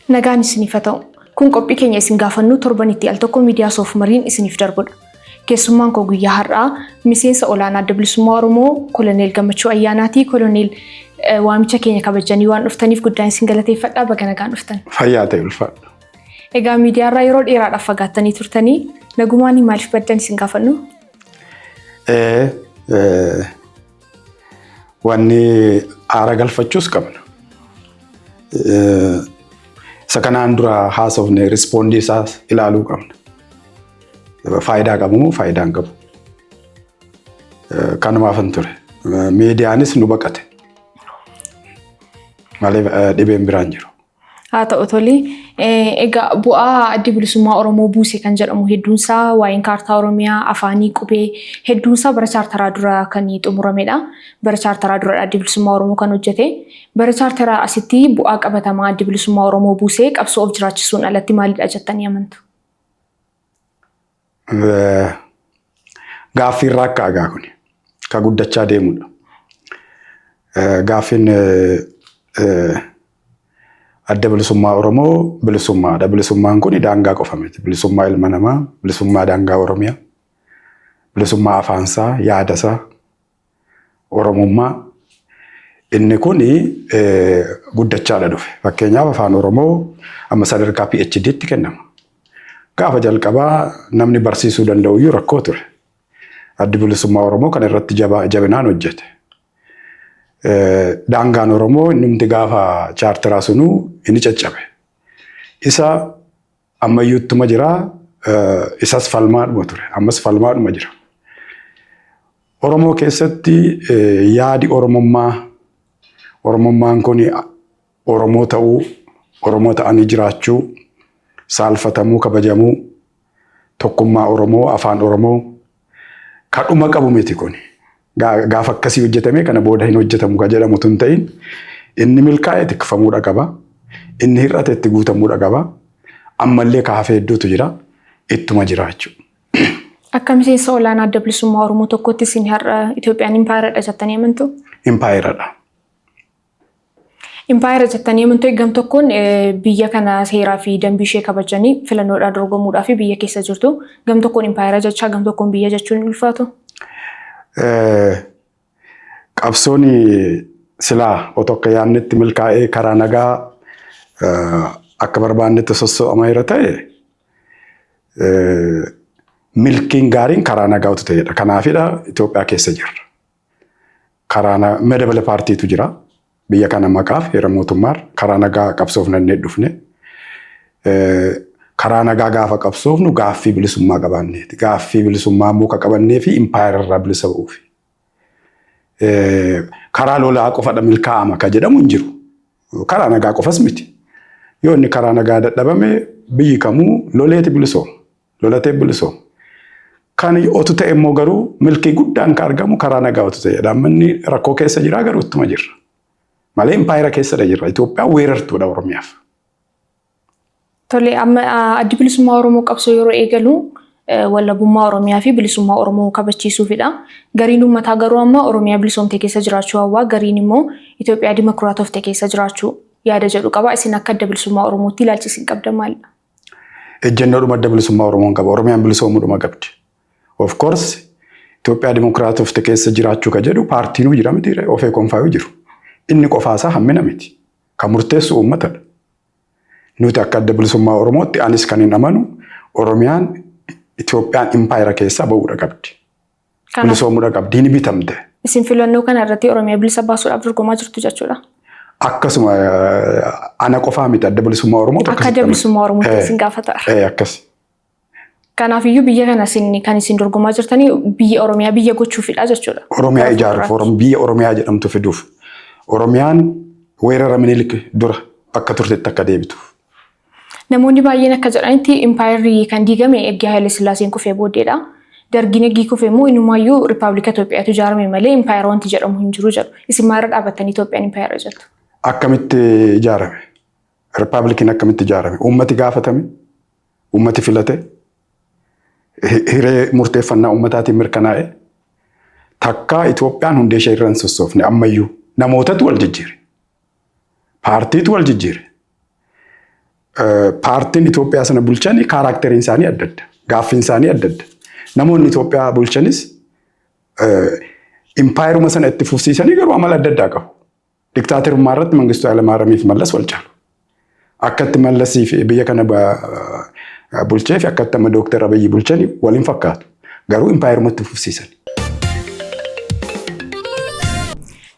Nagaan isiniif haa ta'u. Kun qophii keenya isin gaafannuu torbanitti al tokko miidiyaa soof mariin isiniif darbudha. Keessummaan koo guyyaa har'aa miseensa olaanaa adda bilisummaa Oromoo koloneel Gammachuu Ayyaanaati. Koloneel waamicha keenya kabajanii waan dhuftaniif guddaan isin galateeffadha. Baga nagaan dhuftan. Fayyaa ta'e ulfaadha. Egaa miidiyaarraa yeroo dheeraadhaaf fagaattanii turtanii nagumaan maaliif baddan isin gaafannu? Wanni aara galfachuus qabna. Isa kanaan dura haasofne rispoondii isaa ilaaluu qabna. Faayidaa qabu moo faayidaa hin qabu? Kanumaaf hin ture. Miidiyaanis nu baqate. Malee dhibeen biraan jiru. Haa ta'u tole. Egaa bu'aa addi bilisummaa Oromoo buuse kan jedhamu hedduunsaa waa'een kaartaa Oromiyaa afaanii qubee hedduunsaa bara chaartaraa dura kan xumuramedha. Bara chaartaraa duradha addi bilisummaa Oromoo kan hojjete. Bara chaartaraa asitti bu'aa qabatamaa addi bilisummaa Oromoo buusee qabsoo of jiraachisuun alatti maalidha jettanii amantu? Gaaffii irraa akka agaa kun ka guddachaa deemudha. Gaaffiin adda bilisummaa Oromoo bilisummaadha. Bilisummaan kun daangaa qofa miti. Bilisummaa ilma namaa, bilisummaa daangaa Oromiyaa, bilisummaa afaansaa, yaadasaa, Oromummaa inni kun guddachaadha dhufe. Fakkeenyaaf afaan Oromoo amma sadarkaa PhD tti kennama. Gaafa jalqabaa namni barsiisuu danda'u iyyuu rakkoo ture. Addi bilisummaa Oromoo kan irratti jabinaan hojjete. Daangaan Oromoo inni gaafa chaartiraa sunuu inni caccabe. Isa Ammayyuu ittuma jira. Isas falmaadhuma ture. Ammas falmaadhuma jira. Oromoo keessatti yaadi Oromummaa Oromummaan kun Oromoo ta'uu, Oromoo ta'anii jiraachuu, saalfatamuu, kabajamuu, tokkummaa Oromoo, afaan Oromoo, Ka dhuma qabu miti kun. Gaafa akkasii hojjetamee kana booda hin hojjetamu ka jedhamu tun ta'in inni milkaa'e tikfamuudha qaba. Inni hir'ate itti guutamuudha qaba. Ammallee ka hafee hedduutu jira. Ittuma jira jechuudha. Akka miseensa olaanaa adda bilisummaa Oromoo tokkotti isin har'a Itoophiyaan impaayeradha jettanii amantu? Impaayeradha. Impaayera jettanii amantee gam tokkoon biyya kana seeraa fi dambii ishee kabajanii filannoodhaa dorgomuudhaa fi biyya keessa jirtu gam tokkoon impaayera jechaa gam tokkoon biyya jechuun hin ulfaatu. Qabsoon silaa otoo akka yaadnetti milkaa'ee karaa nagaa akka barbaannetti sosso'ama irra ta'e milkiin gaariin karaa nagaa utuu ta'edha. Kanaafidha Itoophiyaa keessa jirra. karaa na- madabala paartiitu jira. Biyya kana maqaaf heera mootummaar karaa nagaa qabsoofnannee dhufne. Eh, Karaa nagaa gaafa qabsoofnu gaaffii bilisummaa qabaanneeti. Gaaffii bilisummaa immoo ka qabannee fi impaayera irraa bilisa ba'uufi. Eh, Karaa lolaa qofadha milkaa'ama ka jedhamu hin jiru. Karaa nagaa qofas miti. Yoo inni karaa nagaa dadhabame biyyi kamuu loleeti bilisooma. Lolatee bilisoo. Kan otu ta'e immoo garuu milkii guddaan ka argamu karaa nagaa otu ta'e dhaammanni rakkoo keessa jira garuu ittuma jirra. Malee impaayera keessadha jirra. Itoophiyaan weerartuudha Oromiyaaf. Tole amma addi bilisummaa Oromoo qabsoo yeroo eegalu wallabummaa Oromiyaa fi bilisummaa Oromoo kabachiisuufidha. Gariin uummataa garuu amma Oromiyaa bilisoomte keessa jiraachuu hawwaa gariin immoo Itoophiyaa dimokiraatofte keessa jiraachuu yaada jedhu qaba. Isin akka adda bilisummaa Oromootti ilaalchi isin qabdan maalidha? Ejjennoodhuma adda bilisummaa Oromoon qaba. Oromiyaan bilisoomuudhuma qabdi. Of course Itoophiyaa dimokiraatofte keessa jiraachuu ka jedhu paartiinuu jira miti ofee konfaayuu jiru. Inni qofaasaa hammina miti. Ka murteessu uummatadha. Nuti akka adda bilisummaa Oromootti anis kan hin amanu Oromiyaan Itoophiyaan impaayera keessaa ba'uudha qabdi. Kanaaf Bilisoomudha qabdi. Ni bitamte. isin filannoo kana irratti Oromiyaa bilisa baasuudhaaf dorgomaa jirtu jechuudha. Akkasuma eh, ana qofaa miti adda bilisummaa Oromoo Akka akkasitti adda bilisummaa Oromoo Eh. isin gaafata. Eh, akkas. Kanaafiyyuu biyya kana isin kan isin dorgomaa jirtanii biyya Oromiyaa biyya gochuufidha jechuudha. Oromiyaa Gara ijaaruuf fuulduraatti. Orom- biyya Oromiyaa jedhamtu fiduuf. Oromiyaan weerara minilik dura akka turtetti akka deebituuf. Namoonni baay'een akka jedhanitti impaayerri kan diigame erga Haile Sillaaseen kufee booddeedha. Dargiin eggii kufe immoo inumaayyuu Rippaabilika Itoophiyaatu ijaarame malee impaayera wanti jedhamu hin jiru jedhu. Isin maalirra dhaabattanii Itoophiyaan impaayera jettu? Akkamitti ijaarame? Rippaabilikiin akkamitti ijaarame? Uummati gaafatame? Uummati filate? Hi- Hiree murteeffannaa uummataatiin mirkanaa'e? Takkaa Itoophiyaan hundee ishee irra hin sossoofne ammayyuu namootatu wal jijjiire. Paartiitu wal jijjiire. Paartiin Itoophiyaa sana bulchan kaaraakteriin isaanii adda adda. Gaaffiin isaanii adda adda. Namoonni Itoophiyaa bulchanis impaayeruma sana itti fufsiisanii garuu amala adda addaa qabu. Diktaaterummaa irratti Mangistuu Hayilamaariyamii fi Mallas wal caalu. Akkatti Mallasii fi biyya kana bulchee fi akkatti amma Dooktar Abiyyi bulchani wal hin fakkaatu. Garuu impaayeruma itti fufsiisani.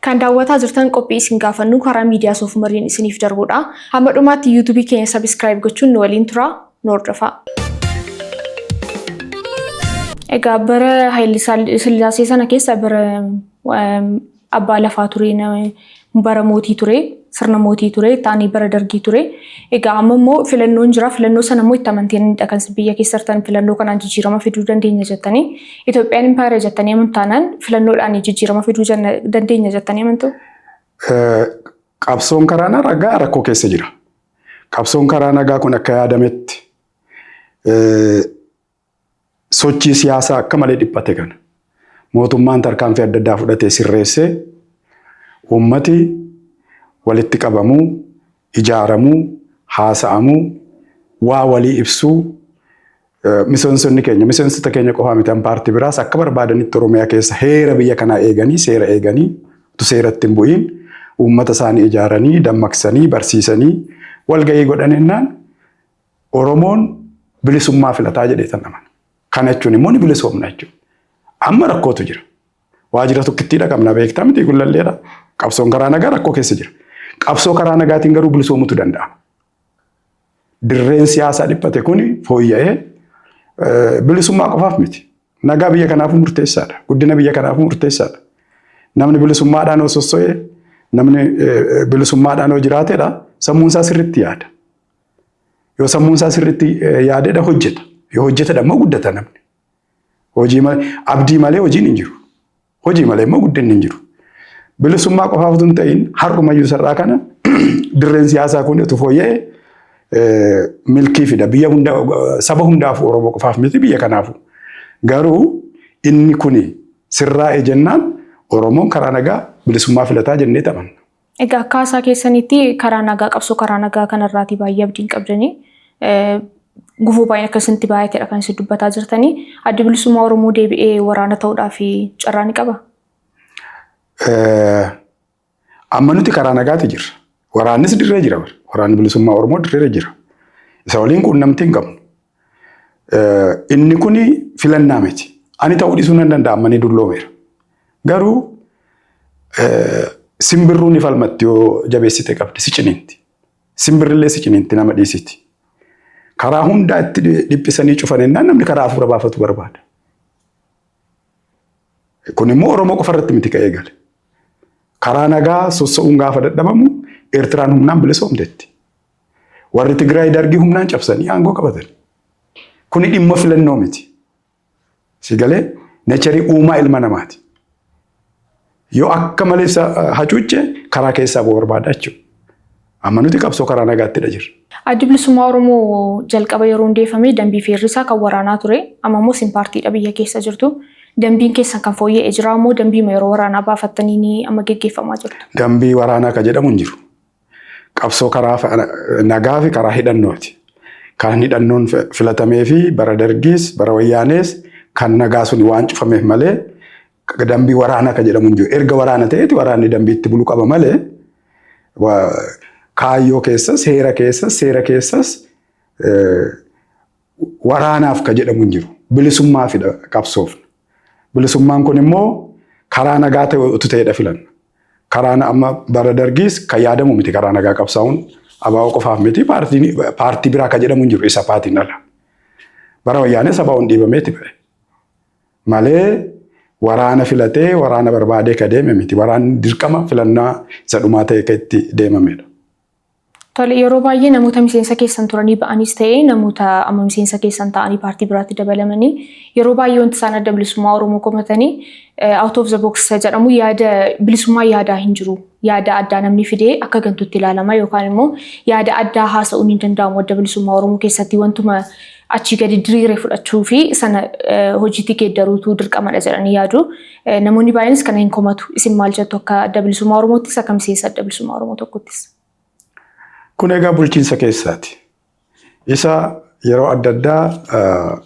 Kan daawwataa jirtan qophii isin gaafannu karaa miidiyaa soofumariin isiniif darbudha. Hamma dhumaatti yuutuubii keenya sabiskiraayib gochuun nu waliin turaa nu hordofaa. Egaa bara Haayile Sillaasee sana keessa bara Abbaa lafaa ture, bara mootii ture, sirna mootii ture, taanii bara dargii ture. Egaa amma immoo filannoon jira. Filannoo sana immoo itti amanteeniidha kan isin biyya keessa jirtan filannoo kanaan jijjiirama fiduu dandeenya jettanii. Itoophiyaan impaayera jettanii amantu taanaan filannoodhaan jijjiirama fiduu janna- dandeenya jettanii amantu. Eh, Qabsoon karaa nagaa rakkoo keessa jira. Qabsoon karaa nagaa kun akka yaadametti eh, Sochii siyaasaa akka malee dhiphate kana mootummaan tarkaanfii adda addaa fudhatee sirreessee uummati walitti qabamuu, ijaaramuu, haasa'amuu, waa walii ibsuu, miseensonni keenya, miseensota keenya qofaa miti an paartii biraas akka barbaadanitti Oromiyaa keessa heera biyya kanaa eeganii, seera eeganii, utuu seeratti hin bu'iin uummata isaanii ijaaranii, dammaqsanii, barsiisanii walga'ii godhan jennaan Oromoon bilisummaa filataa jedhee tan amana. Kana jechuun immoo ni bilisoomna jechuudha. Amma rakkootu jira. Waajjira tokkittii dhaqabna beektaa miti gullalleedha. Qabsoon karaa nagaa rakkoo keessa jira. Qabsoo karaa nagaatiin garuu bilisoomutu danda'a. Dirreen siyaasaa dhiphate kun fooyya'ee bilisummaa qofaaf miti. Nagaa biyya kanaafuu murteessaadha. Guddina biyya kanaafuu murteessaadha. Namni bilisummaadhaan yoo sosso'e, namni bilisummaadhaan yoo jiraateedha, sammuun isaa sirriitti yaada. Yoo sammuun isaa sirriitti yaadedha hojjeta. Yoo hojjetedha immoo guddata namni. Hojii abdii malee hojiin hin jiru. Hojii malee immoo guddinni hin jiru. Bilisummaa qofaaf utuu hin ta'in har'umayyuu sarraa kana dirreen siyaasaa kun utuu fooyya'e milkii fida. Biyya hunda saba hundaaf Oromoo qofaaf miti biyya kanaafu. Garuu inni kuni sirraa'e jennaan Oromoon karaa nagaa bilisummaa filataa jennee taphanna. Egaa akka haasaa keessanitti karaa nagaa qabsoo karaa nagaa kanarraatii baay'ee abdiin qabdanii gufuu baay'een akka isinitti baay'ateedha kan isin dubbataa jirtanii addi bilisummaa Oromoo deebi'ee waraana ta'uudhaaf carraa ni qaba? Amma nuti karaa nagaati jirra. Waraannis dirree jira bara. Waraanni bilisummaa Oromoo dirree jira. Isa waliin quunnamtii hin qabnu. Inni kun filannaa miti. Ani ta'uu dhiisuu nan danda'a amma ni dulloomeera. Garuu simbirruu ni falmatti yoo jabeessite qabde si ciniinti. Simbirrillee si ciniinti nama dhiisiti. Karaa hundaa itti dhiphisanii cufan ennaan namni karaa hafuura baafatu barbaada. Kun immoo Oromoo qofa irratti miti ka'ee gale. Karaa nagaa sossa'uun gaafa dadhabamu Eertiraan humnaan bilisoomteetti. Warri Tigraay dargii humnaan cabsanii aangoo qabatan. Kuni dhimma filannoo miti. Si galee neecharii uumaa ilma namaati. Yoo akka malee isa hacuucce karaa keessaa boo barbaada jechuudha. Amma nuti qabsoo karaa nagaattidha jirra. Addi bilisummaa Oromoo jalqaba yeroo hundeeffame dambii feerrisaa kan waraanaa ture. Amma immoo isin paartiidha biyya keessa jirtu. Dambiin keessan kan fooyya'e jira immoo dambiima yeroo waraanaa baafattanii ni amma geggeeffamaa jirtu. Dambii waraanaa kan jedhamu hin jiru. Qabsoo karaa nagaa fi karaa hidhannooti. Karaan hidhannoon filatamee fi bara dargiis bara wayyaanees kan nagaa sun waan cufameef malee dambii waraanaa kan jedhamu hin jiru. Erga waraana ta'eeti waraanni dambii itti bulu qaba malee kaayyoo keessas heera keessas seera keessas waraanaaf ka jedhamu hin jiru. Bilisummaafidha qabsoofna. Bilisummaan kun immoo karaa nagaa ta'e utuu ta'edha filanna. Karaan amma bara dargiis kan yaadamu miti karaa nagaa qabsaa'uun abaa'oo qofaaf miti paartii biraa ka jedhamu hin jiru isa paatiin ala. Bara wayyaanee sabaa'uun dhiibameeti ba'e. Malee waraana filatee waraana barbaadee ka deeme miti. Waraanni dirqama filannaa isa dhumaa ta'e ka itti deemamedha. Tole, yeroo baay'ee namoota miseensa keessan turanii ba'aniis ta'ee namoota amma miseensa keessan ta'anii paartii biraatti dabalamanii yeroo baay'ee wanti isaan Adda Bilisummaa Oromoo komatanii out of the box isa jedhamu yaada bilisummaa yaadaa hin jiru. Yaada addaa namni fidee akka gantuutti ilaalama yookaan immoo yaada addaa haasa'uun hin danda'amu Adda Bilisummaa Oromoo keessatti wantuma achii gadi diriire fudhachuu fi sana hojiitti geeddaruutu dirqamadha jedhanii yaadu. Namoonni baay'eenis kana hin komatu. Isin maal jettu akka adda bilisummaa Oromoottis akka miseensa adda bilisummaa Oromoo tokkottis? Kun egaa bulchiinsa keessaati. Isa yeroo adda addaa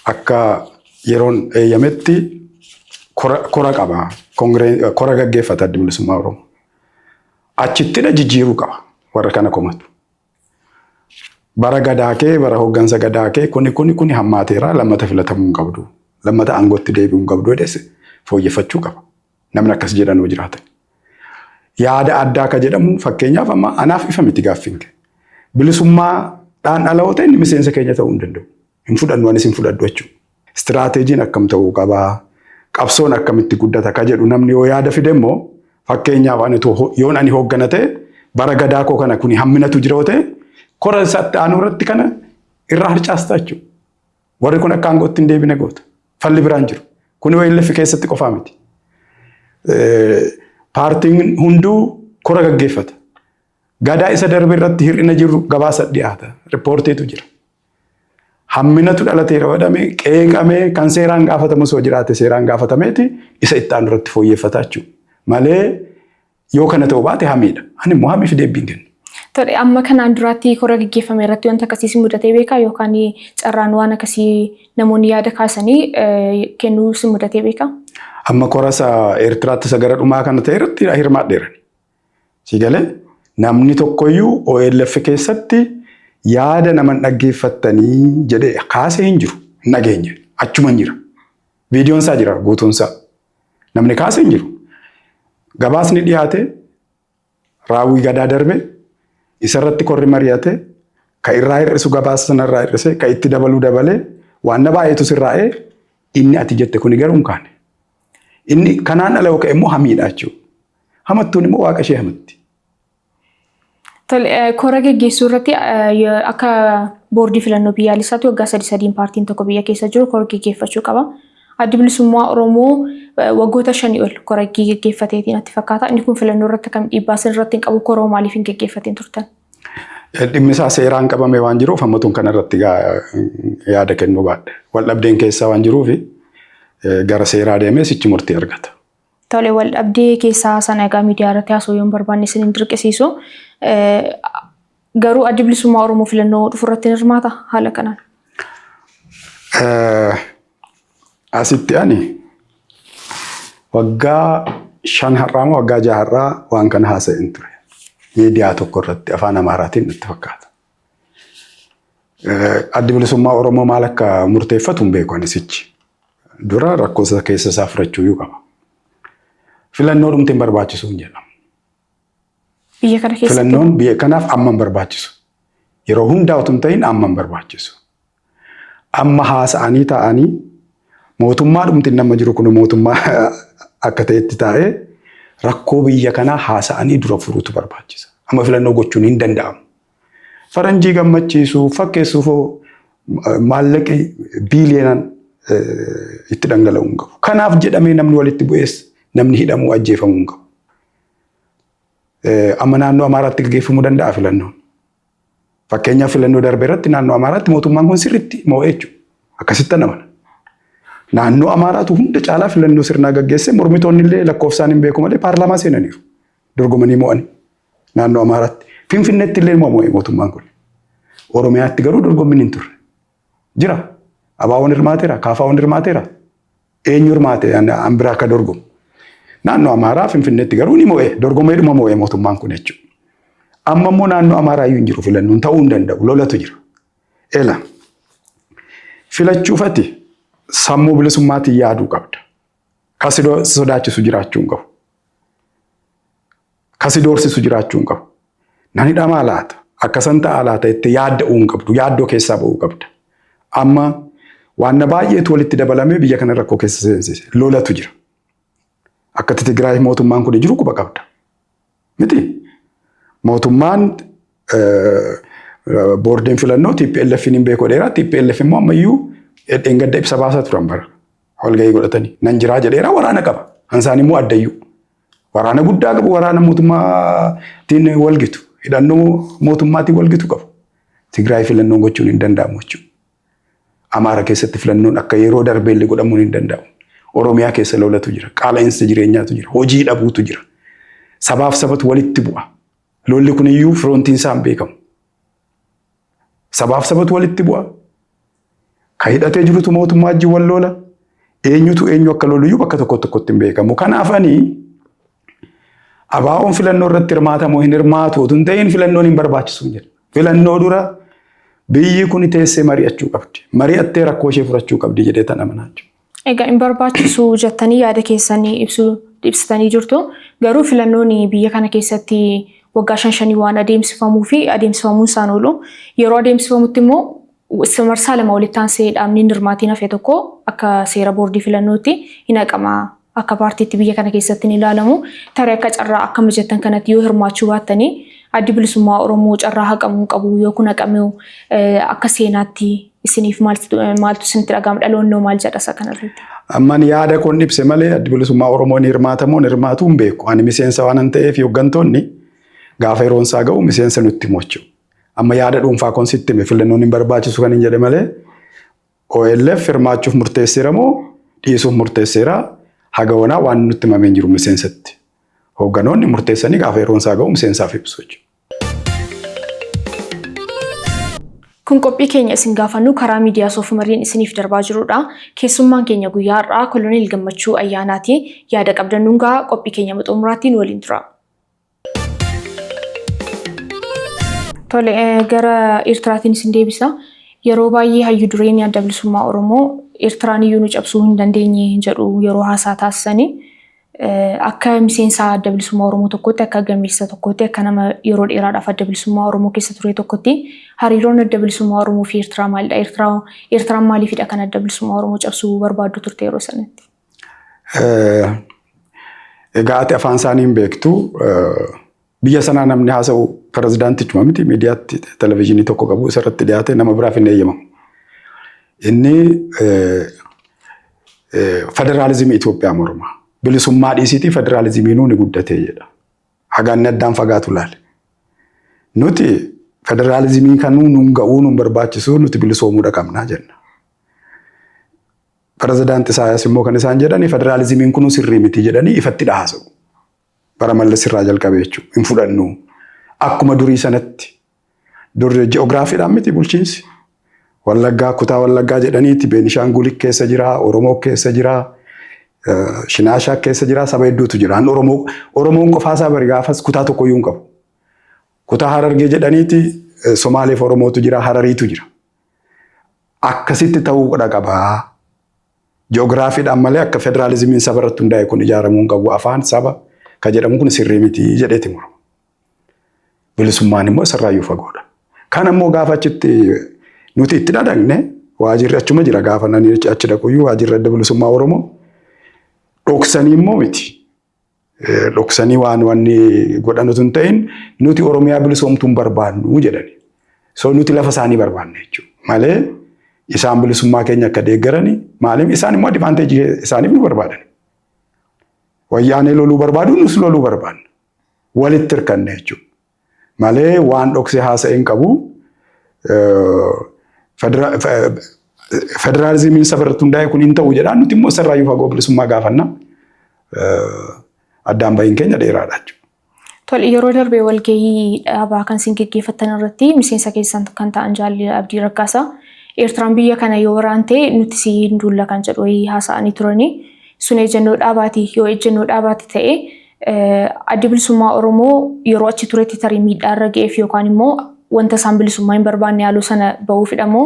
akka yeroon eeyyametti kora qaba. Kora gaggeeffata adda bilisummaa Oromoo. Achittidha jijjiiruu qaba warra kana komatu. Bara gadaa kee, bara hooggansa gadaa kee kuni kuni kuni hammaateera lammata filatamuu hin qabdu. Lammata aangootti deebi'uu hin qabdu jedhes fooyyeffachuu qaba. Namni akkas jedhan yoo jiraatan. Yaada addaa akka jedhamu fakkeenyaaf amma anaaf ifa miti gaaffiin kee. Bilisummaadhaan ala yoo ta'e inni miseensa keenya ta'uu hin danda'u. Hin fudhannu anis hin fudhadhu jechuudha. Istiraateejiin akkam ta'uu qabaa? Qabsoon akkamitti guddata ka jedhu namni yoo yaada fide immoo fakkeenyaaf ani utuu yoon ani hooggana ta'e bara gadaa koo kana kuni hamminatu jira yoo ta'e kora isa itti aanuu irratti kana irraa harcaastaa jechuudha. Warri kun akka aangootti hin deebine goota. Falli biraan jiru. Kuni OLF keessatti qofaa miti. Paartiin hunduu kora gaggeeffata. Gadaa isa darbe irratti hir'ina jiru gabaasa dhiyaata. Riippoortiitu jira. Hamminatu dhalateera jedhamee qeeqamee kan seeraan gaafatamu osoo jiraate seeraan gaafatameeti isa itti aanu irratti fooyyeffataa jechuudha. Malee yoo kana ta'uu baate hamiidha. Ani immoo hamiif deebiin kenna. Tole amma kanaan duraatti kora gaggeeffame irratti wanta akkasiis mudatee beekaa yookaan carraan waan akkasii namoonni yaada kaasanii kennuu si mudatee beekaa? Amma korasa Eertiraatti isa gara dhumaa kana ta'e irratti hirmaadheera. Si galee? Namni tokkoyyuu OLF keessatti yaada naman dhaggeeffattanii jedhee kaasee hin jiru. Hin dhageenye. Achuma hin jira. Viidiyoon isaa jira guutuun isaa. Namni kaasee hin jiru. Gabaasni dhiyaate raawwii gadaa darbe isarratti korri mari'ate ka irraa hir'isu gabaasa sana irraa hir'ise ka itti dabaluu dabalee waan na baay'eetu sirraa'ee inni ati jette kuni garuu hin kaane. Inni kanaan ala yoo ka'e immoo hamiidha jechuudha. Hamattuun immoo waaqa ishee hamatti. Kora geggeessuu irratti akka boordii filannoo biyyaalessaatti waggaa sadi sadiin paartiin tokko biyya keessa jiru kora geggeeffachuu qaba. Addi bilisummaa Oromoo waggoota shanii ol kora geggeeffateetiin natti fakkaata. Inni kun filannoo irratti kam dhiibbaa sin irratti hin qabu koroo maaliif hin geggeeffatiin turtan? Dhimmi isaa seeraan qabame waan jiruuf hammatuun kana irratti yaada kennuu baadhe. Wal dhabdeen keessaa waan jiruuf gara seeraa deemee sichi murtii argata. Tole wal dhabdee keessaa sana egaa miidiyaa irratti haasa'uu yoon barbaanne isin hin dirqisiisu. Garuu addi bilisummaa Oromoo filannoo dhufu irratti hin hirmaata haala kanaan. Asitti ani waggaa shan har'aa moo waggaa jaha har'aa waan kana haasa'een ture. Miidiyaa tokko irratti afaan Amaaraatiin natti fakkaata. Addi bilisummaa Oromoo maal akka murteeffatu hin beeku anisichi. Dura rakkoo isa keessa isaa furachuu iyyuu qaba. Filannoo dhumti hin barbaachisu hin jedhamu. Biyya kana keessatti Filannoon biyya kanaaf amma hin barbaachisu. Yeroo hundaa utuu hin ta'in amma hin barbaachisu. Amma haasa'anii taa'anii mootummaa dhumti inni amma jiru kun mootummaa akka ta'etti taa'ee rakkoo biyya kanaa haasa'anii dura furuutu barbaachisa. Amma filannoo gochuun hin danda'amu. Faranjii gammachiisuu fakkeessuuf maallaqi biiliyoonaan itti dhangala'uu hin qabu. Kanaaf jedhamee namni walitti bu'ees namni hidhamuu ajjeefamuu hin qabu. Amma naannoo Amaaraatti gaggeeffamuu danda'a filannoon. Fakkeenyaaf filannoo darbe irratti naannoo Amaaraatti mootummaan kun sirriitti moo'ee jechuudha. Akkasitti amana. Naannoo Amaaraatu hunda caalaa filannoo sirnaa gaggeesse mormitoonni illee lakkoofsaan hin beeku malee paarlaamaa seenaniiru. Dorgomanii moo'anii naannoo Amaaraatti. Finfinneetti illee moo'ee mootummaan kun. Oromiyaatti garuu dorgommiin hin turre. Jira. Abaawoon hirmaateera, kaafaawwan hirmaateera. Eenyu hirmaate an biraa akka dorgomu. Naannoo Amaaraa Finfinneetti garuu ni mo'e. Dorgomeedhuma mo'e mootummaan kun jechuudha. Amma immoo naannoo Amaaraa iyyuu hin jiru filannoon ta'uu hin danda'u. Lolatu jira. Ela. Filachuufati sammuu bilisummaatiin yaaduu qabda. Kan sodaachisu jiraachuu hin qabu. Ka si doorsisu jiraachuu hin qabu. Nan hidhamaa laata? Akkasan ta'aa laata? jettee yaadda'uu hin qabdu. Yaaddoo keessaa ba'uu qabda. Amma waanna baay'eetu walitti dabalamee biyya kana rakkoo keessa seensise. Lolatu jira. Akkatti Tigraay mootummaan kun jiru quba qabda. Miti. Mootummaan boordiin filannoo TPLF hin beeku dheeraa TPLF immoo ammayyuu dheengadda ibsa baasaa turan bara walgahii godhatanii nan jiraa jedheeraa waraana qaba. Hansaan immoo addayyuu. Waraana guddaa qabu, waraana mootummaatiin wal gitu, hidhannoo mootummaatiin wal gitu qabu. Tigraay filannoon gochuun hin danda'amu jechuudha. Amaara keessatti filannoon akka yeroo darbeellee godhamuun hin danda'amu. Oromiyaa keessa lolatu jira, qaala'insa jireenyaatu jira, hojii dhabuutu jira. Sabaaf sabatu walitti bu'a. Lolli kun iyyuu firoontiin isaan beekamu. Sabaaf sabatu walitti bu'a. Ka hidhatee jirutu mootummaa wajjin wal loola. Eenyutu eenyu akka loluyyuu bakka tokko tokkotti hin beekamu. Kanaaf ani abaa'oon filannoo irratti hirmaatamu hin hirmaatu otoo hin ta'in filannoon hin barbaachisu jedha. Filannoo dura biyyi kun teessee mari'achuu qabdi. Mari'attee rakkoo ishee furachuu qabdi jedhee tan amanaa jechuudha. Egaa hin barbaachisu jettanii yaada keessan ibsuu ibsitanii jirtu. Garuu filannoon biyya kana keessatti waggaa shan shanii waan adeemsifamuu fi adeemsifamuun isaan oolu. Yeroo adeemsifamutti immoo s- marsaa lama walitti aansee dhaabni hin hirmaatiin hafe tokko akka seera boordii filannootti hin haqama. Akka paartiitti biyya kana keessatti hin ilaalamu. Tarii akka carraa akka mijattan kanatti yoo hirmaachuu baattanii addi bilisummaa Oromoo carraa haqamuu qabu yoo kun haqamee eh, akka seenaatti isiniif maaltu maaltu isinitti dhaga'ama dhaloonnoo maal jedha isa kanarratti? Amman yaada koon ibse malee addi bilisummaa Oromoo ni hirmaata moo ni hirmaatu hin beeku. Ani miseensa waan hin ta'eef hooggantoonni gaafa yeroon isaa ga'u miseensa nutti himu jechuudha. Amma yaada dhuunfaa koon sitti hime filannoon hin barbaachisu kan hin jedhe malee OLF hirmaachuuf murteesseera moo dhiisuuf murteesseera haga wanaa waan nutti himamee hin jiru miseensatti. Hoogganoonni murteessanii gaafa yeroon isaa ga'u miseensaaf ibsu jechuudha. Kun qophii keenya isin gaafannu karaa miidiyaa Soofumariin isiniif darbaa jirudha. Keessummaan keenya guyyaa har'aa Koloneel Gammachuu Ayyaanaati. Yaada qabdan nuun gahaa. Qophii keenya hanga xumuraatti nu waliin turaa. Tole, eh, gara Eertiraatiin isin deebisa. Yeroo baay'ee hayyu dureen adda bilisummaa Oromoo Eertiraan iyyuu nu cabsuu hin dandeenye jedhu yeroo haasaa taasisanii. Akka miseensa adda bilisummaa Oromoo tokkootti, akka gameessa tokkootti, akka nama yeroo dheeraadhaaf adda bilisummaa Oromoo keessa ture tokkotti hariiroon adda bilisummaa Oromoo fi Eertiraa maalidha? Eertiraa Eertiraan maaliifidha kan adda bilisummaa Oromoo cabsuu barbaaddu turte yeroo sanatti? Egaa ati afaan isaanii hin beektu. Biyya sanaa namni haasa'u pirezidaantichuma miti miidiyaatti televezyiinii tokko qabu isarratti dhiyaate nama biraaf hin eeyyamamu. Inni federaalizimii Itoophiyaa morma. Bilisummaa dhiisiitii federaalizimiinuu ni guddate jedha. Hagaanni addaan fagaatu laale. Nuti federaalizimii kanuu nun ga'uu nun barbaachisuu nuti bilisoomuudha qabnaa jenna. Pirezidaanti Isaayyaas immoo kan isaan jedhani federaalizimiin kunuu sirrii miti jedhanii ifatti dhahaasa'u. Bara Mallas irraa jalqabe jechuudha. Hin fudhannu. Akkuma durii sanatti dur ji'oogiraafiidhaan miti bulchiinsi. Wallaggaa kutaa Wallaggaa jedhaniiti Beenishaanguul keessa jira, Oromoo keessa jira, Shinaashaa keessa jira, saba hedduutu jira. An Oromoo Oromoon qofaasaa bari gaafas kutaa tokkoyyuu hin qabu. Kutaa Harargee jedhaniiti Somaaleef Oromootu jira, Harariitu jira. Akkasitti ta'uu qaba. Ji'oogiraafiidhaan malee akka federaalizimiin saba irratti hundaa'e kun ijaaramuu hin qabu. Afaan saba kan jedhamu kun sirrii miti jedheeti murama. Bilisummaan immoo isarraayyuu fagoodha. Kan ammoo gaafa achitti nuti itti dhadhagne waajirri achuma jira gaafa nani achi dhaquyyuu waajirri adda bilisummaa Oromoo dhoksanii immoo miti. dhoksanii waan wanni godhan utuu hin ta'in nuti Oromiyaa bilisoomtuu hin barbaannu jedhani. So nuti lafa isaanii barbaanna jechuudha. Malee isaan bilisummaa keenya akka deeggarani maaliif isaan immoo adivaanteejii isaaniif nu barbaadan. Wayyaanee loluu barbaadu nus loluu barbaanna. Walitti hirkanne jechuudha. malee waan dhoksee haasa'e hin qabu. Federaalizimiin saba irratti hundaa'e kun hin ta'u jedha. Nuti immoo isarraa iyyuu fagoo bilisummaa gaafanna. Addaan bahiin keenya dheeraadha jechuudha. Tole yeroo darbe walgahii dhaabaa kan isin geggeeffattan irratti miseensa keessan kan ta'an jaalli Abdii Raggaasaa Eertiraan biyya kana yoo waraante nuti si hin duulla kan jedhu wayii haasa'anii turanii sun ejjennoo dhaabaati yoo ejjennoo dhaabaati ta'e Addi Bilisummaa Oromoo yeroo achi turetti tarii miidhaa irra ga'eef yookaan immoo wanta isaan bilisummaa hin barbaanne haaloo sana bahuufidha moo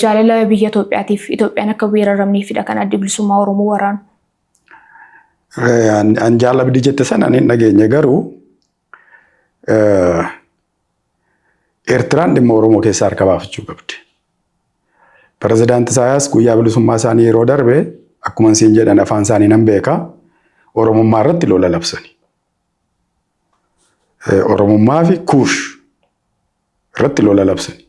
jaalala biyya Itoophiyaatiif Itoophiyaan akka weeraramneefidha kan addi bilisummaa Oromoo waraanu? An jaalabdi jette sana ani hin dhageenye garuu Eertiraan dhimma Oromoo keessaa harka baafachuu qabdi. Pirezidaanti Isaayaas guyyaa bilisummaa isaanii yeroo darbe akkuma isiin jedhan afaan isaanii nan beeka Oromummaa irratti lola labsani. Oromummaa fi kuush irratti lola labsani.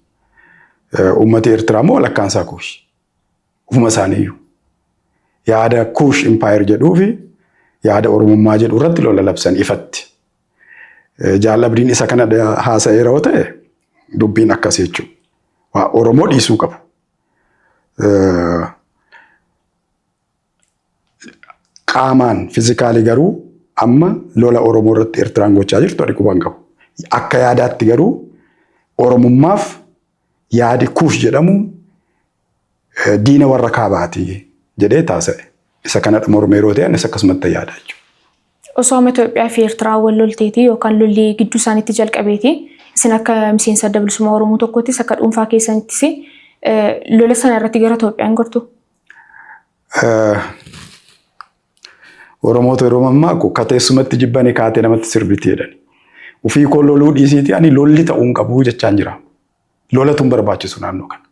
Uummati Eertiraa immoo walakkaan isaa kuush. Ufuma isaaniiyyuu. Yaada kuush impaayir jedhuu fi yaada Oromummaa jedhu irratti lola labsani ifatti. Jaallabdiin isa kana haasa'eera yoo ta'e dubbiin akkas jechuudha. Waa Oromoo dhiisuu qabu. Qaamaan fizikaalii garuu amma lola Oromoo irratti Eertiraan gochaa jirtu ani quban qabu. Akka yaadaatti garuu Oromummaaf Yaadi Kuush jedhamu diina warra kaabaati jedhee taasa'e. Isa kanadha mormee yeroo ta'e anis akkasumatti yaada jechuudha. Osooma Itoophiyaa fi Eertiraa wal lolteeti yookaan lolli gidduu isaaniitti jalqabeeti. Isin akka miseensa adda bilisummaa Oromoo tokkoottis akka dhuunfaa keessanittis lola sana irratti gara Itoophiyaan gortu. Oromoota yeroo mammaaku ka teessumatti jibbani kaatee namatti sirbiti jedhani. Ufii koo loluu dhiisiiti ani lolli ta'uu hin qabu jechaan jira. Lolatu hin barbaachisu naannoo kana.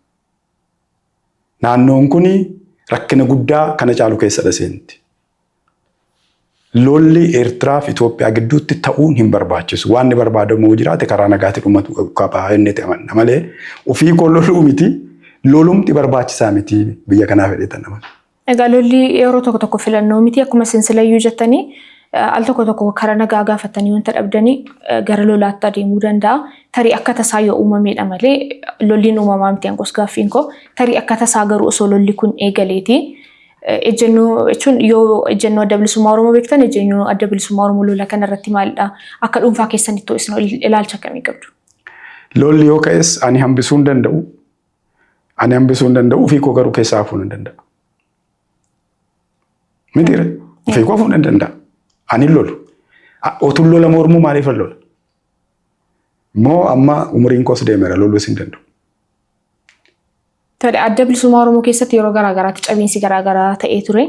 Naannoon kun rakkina guddaa kana caalu keessadha seenti. Lolli Eertiraa fi Itoophiyaa gidduutti ta'uun hin barbaachisu. Waan inni barbaadamu yoo jiraate karaa nagaatti dhumatu qaba inni itti amanna malee ofii koo loluu miti lolumti barbaachisaa miti biyya kanaaf jedhee tan amana. Egaa lolli yeroo tokko tokko filannoo miti akkuma isin silayyuu jettanii eh, al tokko tokko karaa nagaa gaafatanii wanta dhabdanii eh, gara lolaatti adeemuu danda'a. Tarii akka tasaa yoo uumameedha malee eh, lolliin uumamaa miti angos gaaffiin koo tarii akka tasaa garuu osoo lolli kun eegaleeti Ejjennoo jechuun yoo ejjennoo adda bilisummaa Oromoo beektan ejjennoo adda bilisummaa Oromoo lola kana irratti maalidha? Akka dhuunfaa keessanitti isin ilaalcha akkamii qabdu? Lolli yoo ka'es ani hambisuu hin danda'u. Ani hambisuu hin danda'u ofii koo garuu keessaa hafuu nan danda'a. Mitiire ofii koo hafuu nan danda'a. Ani hin lolu. Otuun lola mormuu maaliif hin lola? Moo amma umuriin koos deemeera loluu isin danda'u. Tole adda bilisummaa Oromoo keessatti yeroo garaa garaatti cabiinsi garaa garaa ta'ee ture.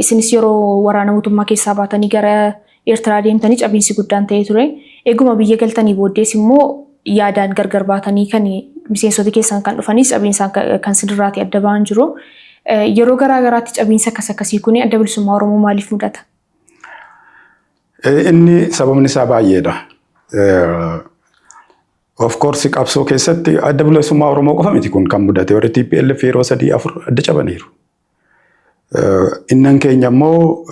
Isinis yeroo waraana mootummaa keessaa baatanii gara Eertiraa deemtanii cabiinsi guddaan ta'ee ture. Eeguma biyya galtanii booddees immoo yaadaan gargar baatanii kan miseensota keessan kan dhufanis cabiinsaan kan sinirraati adda ba'an jiru. Yeroo garaa garaatti cabiinsa akkas akkasii kun adda bilisummaa Oromoo maaliif mudata? Inni sababni isaa baay'eedha. Of course qabsoo keessatti adda bilisummaa Oromoo qofa miti kun kan mudate warri TPLF yeroo sadii afur adda cabaniiru. Innan keenya immoo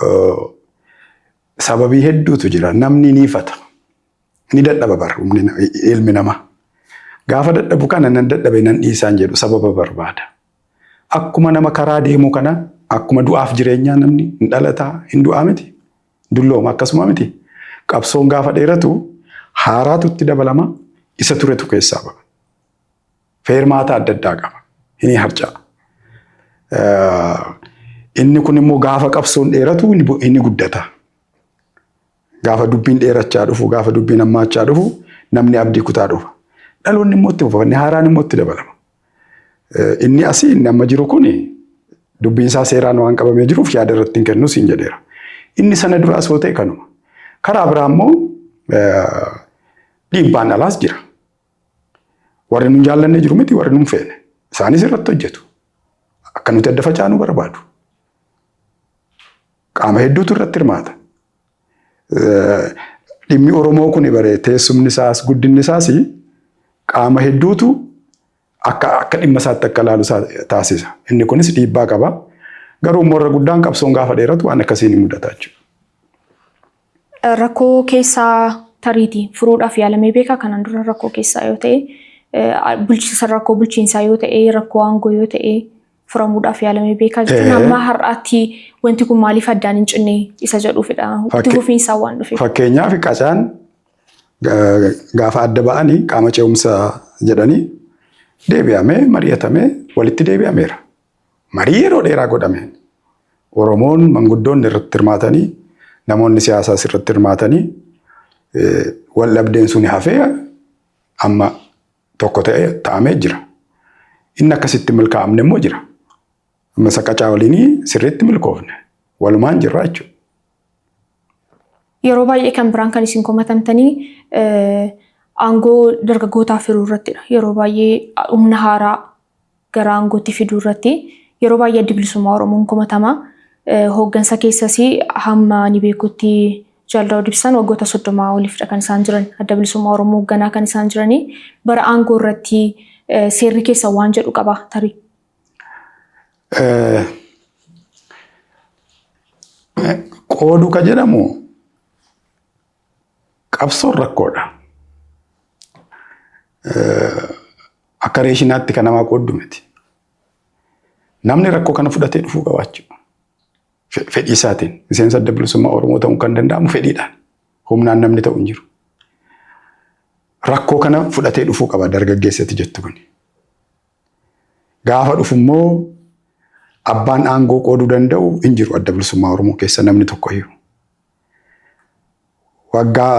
sababii hedduutu jira. Namni ni ifata. Ni dadhaba bar ilmi namaa. Gaafa dadhabu kana nan dadhabe nan dhiisaan jedhu sababa barbaada. Akkuma nama karaa deemuu kana akkuma du'aaf jireenyaa namni hin dhalataa hin du'aa miti. Dullooma akkasuma miti. Qabsoon gaafa dheeratu haaraatu itti dabalama isa turetu keessaa ba'a. Feermaata adda addaa qaba. Inni harca'a. Inni kun immoo gaafa qabsoon dheeratu inni guddata. Gaafa dubbiin dheerachaa dhufu, gaafa dubbiin hammaachaa dhufu namni abdii kutaa dhufa. Dhaloonni immoo itti fufa, inni haaraan immoo itti dabalama. Inni asii inni amma jiru kun dubbiin isaa seeraan waan qabamee jiruuf yaada irratti hin kennu siin jedheera. Inni sana duraas yoo ta'e kanuma. Karaa biraa immoo dhiibbaan alaas jira. Warri nun jaallanne jiru miti warri nun feene. Isaanis irratti hojjetu. Akka nuti adda facaanu barbaadu. Qaama hedduutu irratti hirmaata. Dhimmi Oromoo kun bare teessumni isaas guddinni isaas qaama hedduutu akka akka dhimma isaatti akka ilaalu taasisa. Inni kunis dhiibbaa qaba. Garuu immoo irra guddaan qabsoon gaafa dheeratu waan akkasiin hin mudata jechuudha. Rakkoo keessaa tariitii furuudhaaf yaalamee beekaa kanaan dura rakkoo keessaa yoo ta'e bulchiinsa rakkoo bulchiinsaa yoo ta'e rakkoo aangoo yoo ta'e furamuudhaaf yaalamee beekaa jechuun amma har'aatti wanti kun maaliif addaan hin cinne isa jedhuufidha. Itti fufiinsaa waan dhufeef. Fakkeenyaaf qacaan gaafa adda ba'anii qaama ce'umsa jedhanii deebi'amee mari'atamee walitti deebi'ameera. Marii yeroo dheeraa godhame. Oromoon manguddoonni irratti hirmaatanii namoonni siyaasaas irratti hirmaatanii wal dhabdeen sun hafee amma tokko ta'e ta'amee jira. Inni akkasitti milkaa'amne immoo jira. Amma saqacaa waliinii sirriitti milkoofne. Walumaan jirra jechuudha. Yeroo baay'ee kan biraan kan isin komatamtanii aangoo dargaggootaaf hiruu irrattidha. Yeroo baay'ee humna haaraa gara aangootti fiduu irratti yeroo baay'ee addi bilisummaa Oromoon komatama. Hooggansa keessas hamma ani beekutti Jaal Daawud Ibsaan waggoota soddomaa oliifdha kan isaan jiran. Adda bilisummaa Oromoo hoogganaa kan isaan jiranii bara aangoo irratti seerri keessa waan jedhu qaba tarii. Qooduu ka jedhamu qabsoon rakkoodha. Akka reeshinaatti kan namaa qooddu miti. Namni rakkoo kana fudhatee dhufuu qabaachuu. Fedhii isaatiin miseensa adda bilisummaa Oromoo ta'uun kan danda'amu fedhiidhaan. Humnaan namni ta'u hin jiru. Rakkoo kana fudhatee dhufuu qaba dargaggeessatti jettu kun. Gaafa dhufu immoo abbaan aangoo qooduu danda'u hin jiru adda bilisummaa Oromoo keessa namni tokkoyyuu. Waggaa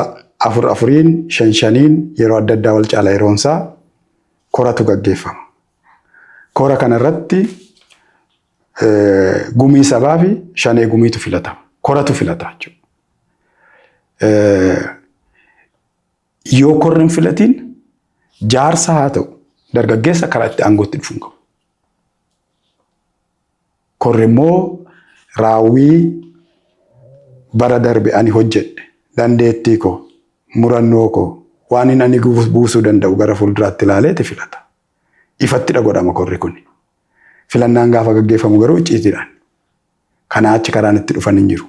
afur afuriin shan shaniin yeroo adda addaa wal caala yeroonsaa koratu gaggeeffama. Kora kana irratti gumii sabaa fi shanee gumiitu filatama. Koratu filata jechuudha. Yoo korri hin filatiin jaarsa haa ta'u dargaggeessa karaa itti aangootti dhufuun qabu. Korri immoo raawwii bara darbe ani hojjedhe, dandeettii koo, murannoo koo, waanin ani buusuu danda'u gara fuulduraatti ilaaleeti filata. Ifattidha godhama korri kuni. Filannaan gaafa gaggeeffamu garuu icciitiidhaan. Kanaa achi karaan itti dhufan hin jiru.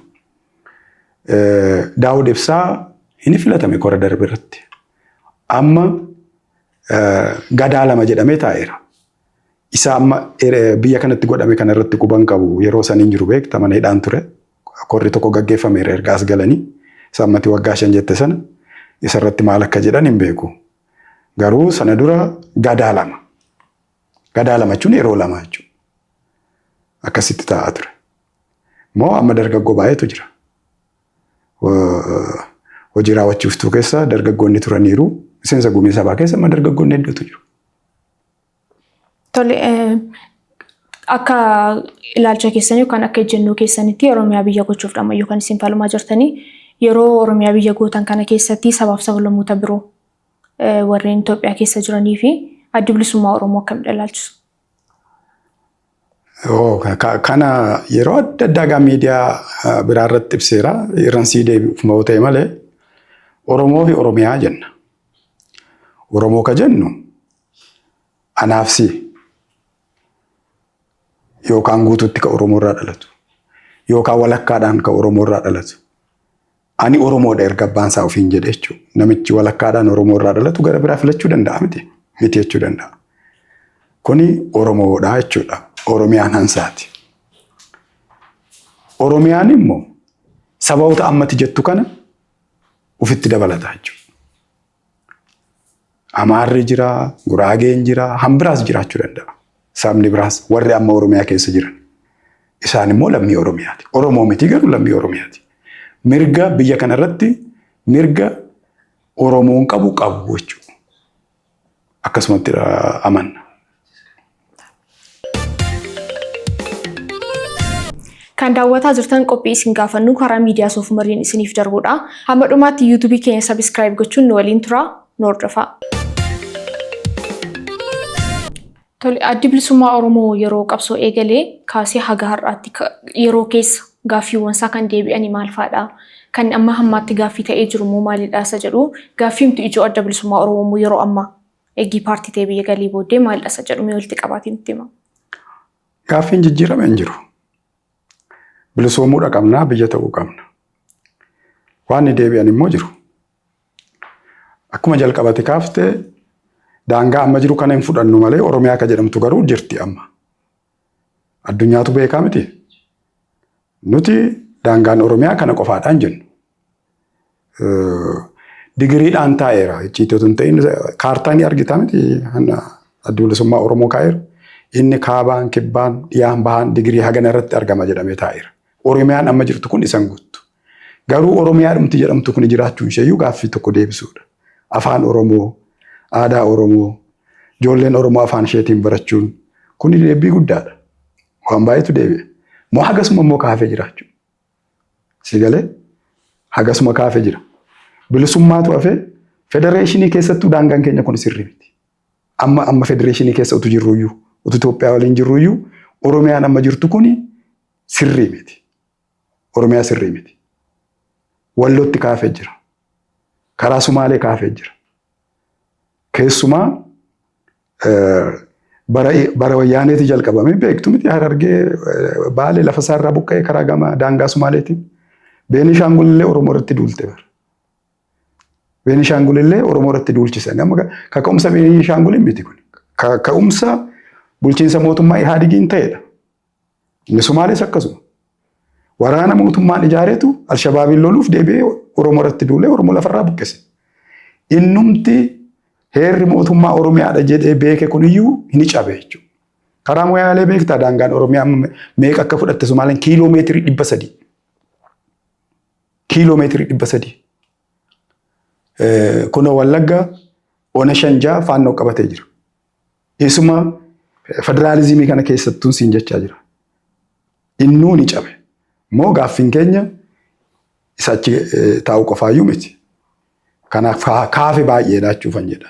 Daawud Ibsaa hin filatame kora darbe irratti. Amma gadaa lama jedhamee taa'eera. Isa amma biyya kanatti godhame kana irratti quban qabu yeroo san hin jiru beekta mana hidhaan ture. Korri tokko gaggeeffameera erga as galanii. Isa ammati waggaa shan jette sana isa irratti maal akka jedhan hin beeku. Garuu sana dura gadaa lama. Gadaa lama jechuun yeroo lama jechuudha. Akkasitti taa'aa ture. Moo amma dargaggoo baay'eetu jira. Hojii raawwachiiftuu keessa dargaggoonni turaniiru. Miseensa gumii sabaa keessa amma dargaggoonni hedduutu jiru. Tole akka ilaalcha keessanii yookaan akka ejjennoo keessanitti Oromiyaa biyya gochuuf dhammayyuu kan isin falmaa jirtanii yeroo Oromiyaa biyya gootan kana keessatti sabaaf sablammoota biroo warreen Itoophiyaa keessa jiranii fi addi bilisummaa Oromoo akkamitti ilaalchisu? Kana yeroo adda addaa gaa miidiyaa biraa irratti ibseera. Irran sii deebi'uuf yoo ta'e malee Oromoo fi Oromiyaa jenna. Oromoo ka jennu anaaf si yookaan guutuutti ka Oromoo irraa dhalatu yookaan walakkaadhaan ka Oromoo irraa dhalatu Ani Oromoodha erga abbaan isaa ofiin jedhe jechuudha. Namichi walakkaadhaan Oromoo irraa dhalatu gara biraa filachuu danda'a miti. Miti jechuu danda'a. Kuni Oromoodha jechuudha. Oromiyaan hansaati. Oromiyaan immoo sababoota ammatti jettu kana ofitti dabalata jechuudha. Amaarri jira, Guraageen jira, hambiraas jiraachuu danda'a. Sabni biraas warri amma Oromiyaa keessa jiran. Isaan immoo lammii Oromiyaati. Oromoo miti garuu lammii Oromiyaati. Mirga biyya kana irratti mirga Oromoon qabu qabu jechuudha. Akkasumatti amanna. Kan daawwataa jirtan qophii isin gaafannuu karaa miidiyaa soofumariin isiniif darbudha. Hamma dhumaatti yuutuubii keenya sabiskiraayib gochuun nu waliin turaa nu hordofaa. Tole, Addi Bilisummaa Oromoo yeroo qabsoo eegalee kaasee haga har'aatti ka- yeroo keessa gaaffiiwwan isaa kan deebi'ani maal faadha? Kan amma hammaatti gaaffii ta'ee jiru immoo maalidha isa jedhu gaaffiimtu ijoo Adda Bilisummaa Oromoo immoo yeroo ammaa Eegii paartii tee biyya galii booddee maal dhasa jedhu mee walitti qabaatii nutti hima. Gaaffiin jijjiirame hin jiru. Bilisoomuudha qabnaa biyya ta'uu qabna. Waan ni deebi'an immoo jiru. Akkuma jalqabati kaafte daangaa amma jiru kana hin fudhannu malee Oromiyaa akka jedhamtu garuu jirti amma. Addunyaatu beekaa miti. Nuti daangaan Oromiyaa kana qofaadhaan jennu. Digiriidhaan taa'eera. Icciitii otoo hin ta'in kaartaa ni argita miti hanna addi bilisummaa Oromoo kaa'eera. Inni kaabaan, kibbaan, dhiyaan, bahaan digirii hagana irratti argama jedhamee taa'eera. Oromiyaan amma jirtu kun isan guuttu. Garuu Oromiyaa dhumti jedhamtu kun jiraachuun isheeyyuu gaaffii tokko deebisuudha. Afaan Oromoo, aadaa Oromoo, ijoolleen Oromoo afaan isheetiin barachuun kun deebii guddaadha. Waan baay'eetu deebi'e. Moo hagasuma immoo kaafee jiraachuu. Si galee? Hagasuma kaafe jira. Bilisummaatu hafee federeeshinii keessattuu daangaan keenya kun sirri miti. Amma amma federeeshinii keessa utu jirruyyuu utu Itoophiyaa waliin jirruyyuu Oromiyaan amma jirtu kun sirrii miti. Oromiyaa sirrii miti. Wallootti kaafee jira. Karaa Sumaalee kaafee jira. Keessumaa bara wayyaaneeti jalqabame beektu miti harargee baalee lafa isaa irraa buqqa'ee karaa gama daangaa Sumaaleetiin Beenishaangul illee Oromoo irratti duulte bara. Beenishaangul illee Oromoo irratti duulchisan. Amma kaka'umsa Beenishaangul miti kun. Kaka'umsa bulchiinsa mootummaa Ihaadigiin ta'edha. Inni Somaalees akkasuma. Waraana mootummaan ijaareetu Alshabaabiin loluuf deebi'ee Oromoo irratti duulee Oromoo lafarraa buqqise. Innumti heerri mootummaa Oromiyaadha jedhee beeke kuniyyuu ni cabe jechuudha. Karaa Moyaalee beektaa daangaan Oromiyaa meeqa akka fudhatte Somaaleen kiiloo meetirii dhibba sadii. Kiiloo meetirii dhibba sadii. Kunoo Wallaggaa ona shan ja'a faannoo qabatee jira. Isuma federaalizimii kana keessattuun siin jechaa jira. Innuu ni cabe. Moo gaaffiin keenya isa achi eh, taa'u qofaayyuu miti. Kanaaf kaa- kaafe baay'ee laachuufan jedha.